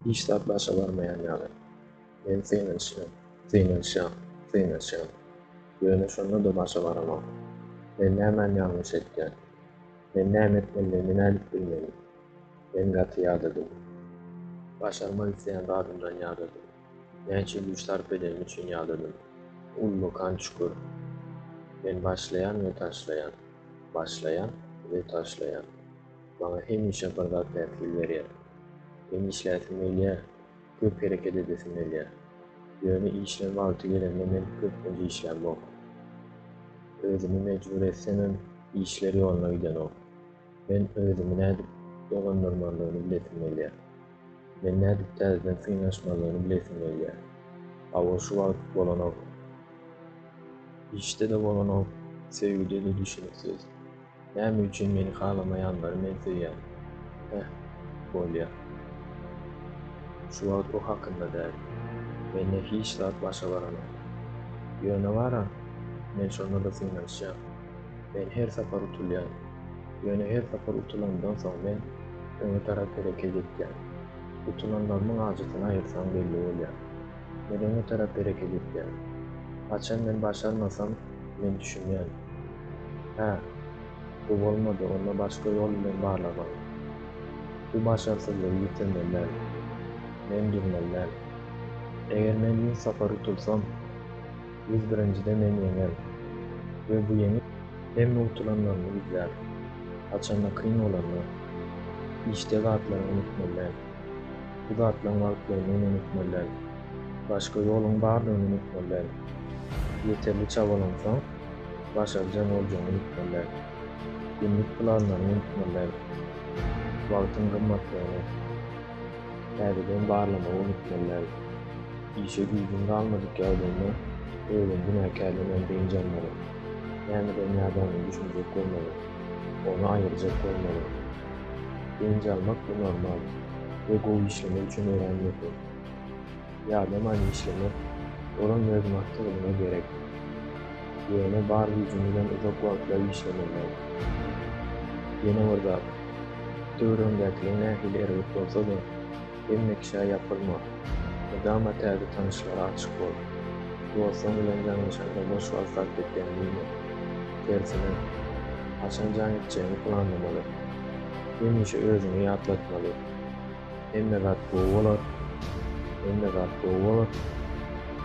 Hiç zat başa barmaýan ýaly. Men synanyşýan, synanyşýan, synanyşýan. Ýöne şonda-da başa baranok. Men nämän ýalňyş etýän? Men näme etmelidigimi nädip bilmeli? Men gaty ýadadym. Başarmak isleýän zadymdan ýadadym. Näçe güýç sarp edenim üçin ýadadym. Uly kan çukur. Men başlaýan we taşlaýan, başlaýan we taşlaýan. Maňa hemişe bir zat päsgel berýär. Hem işläsim gelýär, köp hereket edesim gelýär. Ýöne işleň wagty gelende men köplenç işlämok. Özümi mejbur etsemem, işler ýoluna gidenok. Men özümi nädip dolandyrmalydygyny bilesim gelýär. Men nädip täzeden synanyşmalydygyny bilesim gelýär. Hawa şu wagt bolanok. Işde-de bolanok, söýgüde-de düşüniksiz. Näme üçin meni halamaýanlary men söýýän? Heh, bolýa. Şu wagt o hakynda däl. Mende hiç zat başa baranok. Ýöne bar-a, men şonda-da synanyşýan. Men her sapar utulýan. Ýöne her sapar utulanymdan soň men öňe tarap hereket etýän. Utulanlarymyň ajysyny aýyrsaň belli bolýar. Men öňe tarap hereket etýän. Haçan men başarmasam, men düşünýän. Hä, bu bolmady, onda başga ýol bilen barlamaly. Bu başarsyzlygy ýitirmeli däl. Men dürmeli däl. Eger men ýüz sapar utulsam, ýüz birinjide men ýeňen we bu ýeňiş. Hemme utulanlaryny gizlär. Haçanda kyn bolanda, işdä zatlaryňy unutmaly däl. Bu zatlaryň galyplygyny men unutmaly däl. Başga ýoluň bardygyny unutmaly däl. Ýeterli çabalansaň, başarjaň boljagyňy unutmaly däl. Günlük planlaryňy unutmaly däl. Wagtyň gymmatlygyny täzeden barlamagy unutmaly däl. Işe güýjüň galmadyk ýagdaýynda özüňi günäkärlemän dynç almaly. Nämeden ýadanyny düşünjek bolmaly. Ony aýyrjak bolmaly. Dynç almak bu normal we gowy işlemek üçin örän möhüm. Ýadamaýyn işlemek olam öz maksadadyna gerek. Ýöne bar güýjüň bilen uzak wagtlap işlemek däl. Ýene bir zat, döwrebindäkiler nähili erbet bolsa-da, Hemme kişä ýapylma. Mydama täze tanyşlara açyk bol. Dostuň bilen ýalňyşanda boş wagt sarp etýän diýme. Tersine, haçan jaň etjegiňi planlamaly. Hemişe özüňe ýatlatmaly, Hemme zat gowy bolar, hemme zat gowy bolar,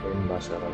men başarar.